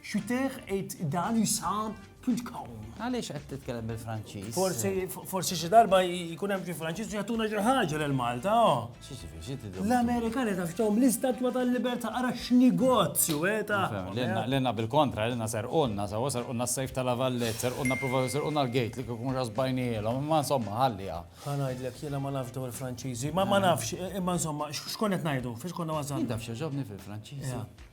Xuter et dan isam pulkom. Għaliex qed titkellem bil-Franċiż? Forsi forsi xi darba jkun hemm xi Franċiż u jagħtuna xi ħaġa lil Malta. L-Amerikani taf x'tahom l-istatwa tal-libertà ara x'negozju eta. Lilna bil-kontra, lilna serqulna, sawa serqulna s-sejf tal-avallet, serqulna provaw serqulna l-gate li kikun ġasbajnielhom, imma insomma ħallija. Ħa ngħidlek jiena ma nafx dawn il-Franċiżi, ma nafx, imma insomma x'kont qed ngħidu, fiex konna wasalna. Taf xi ġobni fil-Franċiżi?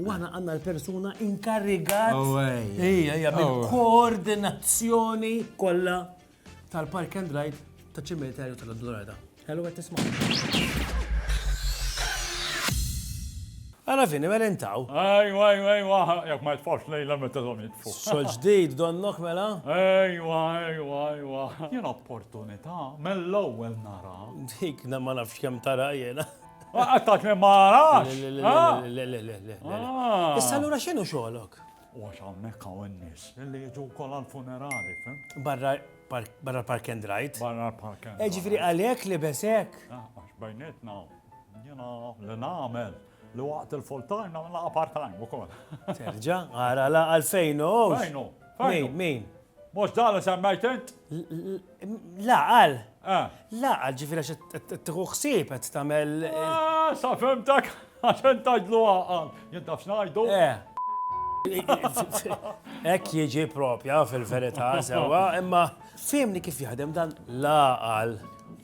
U aħna għandna l-persuna inkarigat. Oh, ejja, ejja, bil-koordinazzjoni oh. kollha tal-Park and Ride ta' ċimiterju tal-Dorada. Hello, għet tisma. Għana fini, mela intaw. Ejwa, ejwa, ejwa, jek ma jitfax lejla meta dom jitfu. Xol ġdid, donnok mela? Ejwa, ejwa, ejwa. Jena opportunità, mill-ewwel nara. Dik, ma nafx kem tara jena. Għattat me marax! Le, le, le, le, le, le. Ah. Issa l-ura xinu xolok? U għax għammek għawen nis, li jġu kol għal-funerali, fem? Barra barra park and ride. Barra park and eh, ride. Ġifri għalek li besek. Ah, għax bajnetna, jena li namel li waqt il-full time namel laqa part time u kol. Terġa, għara la għalfejn u. Fejnu, fejnu. Min, min? Mhux dan li semmejt int? La qal. La qal ġifieri għax qed tieħu ħsieb qed tagħmel. Ah, sa fimtek għax int tgħidlu għaqal. Jien taf x'ngħidu? Hekk jiġi propja fil-verità sewwa, imma fehmni kif jaħdem dan la qal.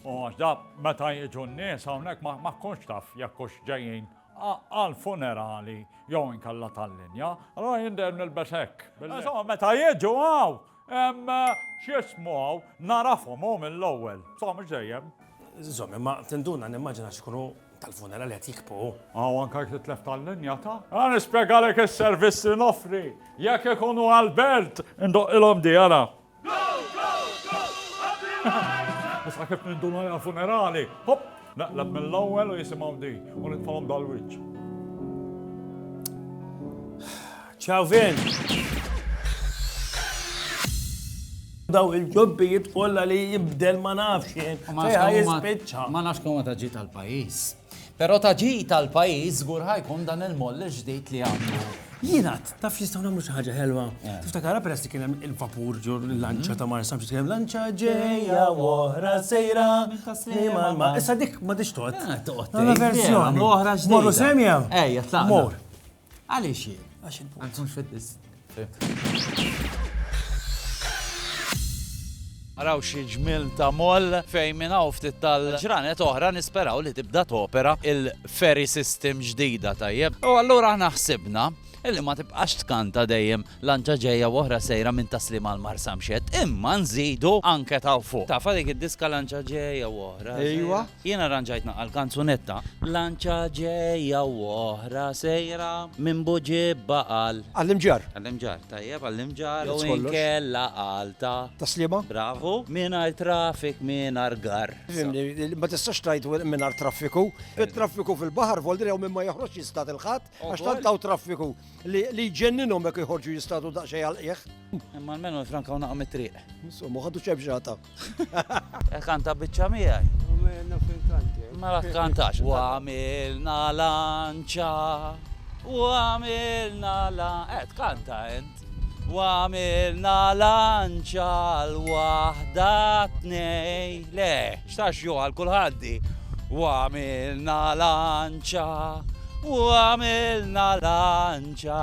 U għax da meta jiġu n-nies hawnhekk ma tkunx taf jekk hux ġejjin għall-funerali jew inkella tal-linja, allura jien dejjem nilbes hekk. Insomma, meta jiġu hawn, x'jismu hawn, nagħrafhom hu mill-ewwel. Insomma, mhux dejjem. Żomm, imma tinduna nimmaġina xi jkunu tal-funerali qed jikbqu hu. Aw anke jekk titlef tal-linja ta'. Ara nispjegalek is-servizz li noffri. Jekk ikunu għall-belt, indoqqilhom di, ara. Issa kif ninduna għal funerali, hop, naqlab mill-ewwel u jisimgħu di u nitfalhom dal-wiċċ. Ciao Vin! daw il-ġobbijiet kollha li jibdel ma nafx jien. Ma nafx kemm ma taġġi tal-pajjiż. Però ta' ġid għall-pajjiż żgur ħa jkun dan il-moll il-ġdid li għandu. Jien għadt, taf nistgħu nagħmlu xi ħaġa ħelwa? Tiftakarha peress li kien hemm il-vapur ġo l-lanċa ta' Marsa Mċis kien hemm lanċa ġejja u oħra sejra minn tas-sliem għall-mar. Issa dik m'għadhiex tgħodd. Tgħodd. Għandna verżjoni. Għamlu oħra ġdida. Morru semja? Ejja, tlaqna. Mor. Għaliex hi? Għax il-punt. Għax mhux fitness. Araw xi ġmil ta' moll fejn minn hawn ftit tal-ġranet oħra nisperaw li tibda topera il-ferry system ġdida tajjeb. U allura aħna ħsibna illi ma tibqax tkanta dejjem lanċa ġejja oħra sejra minn taslim għal marsamxet, imma nżidu anke ta' fuq. Tafa dik id-diska lanċa ġejja oħra. Ejwa, Jien arranġajt naqal kanzunetta. Lanċa ġejja u oħra sejra minn Buġib Baqal. Għall-Imġarr. Għall-Imġarr, tajjeb, għall-Imġarr jew inkella għal ta'. Ta' Sliema. Bravu. Mingħajr traffic, mingħajr garr. Fimni, ma tistax tgħid mingħajr traffiku. It-traffiku fil-baħar vol dri hawn min ma joħroġx jistad il-Ħadd għax tant hawn traffiku li jġenninhom jekk joħorġu jistadu daqsxejn għall-qiegħ. Imma almenu jifrankaw naqgħa mit-triq. Insomma, ħadu ċebxata. E kanta bicċa miegħi. Ma la kantax. U għamilna lanċa, u għamilna la. Et eh, kanta ent. U għamilna lanċa l-wahda tnej. Le, xtax ju għal kulħaddi. U għamilna lanċa, u għamilna lanċa.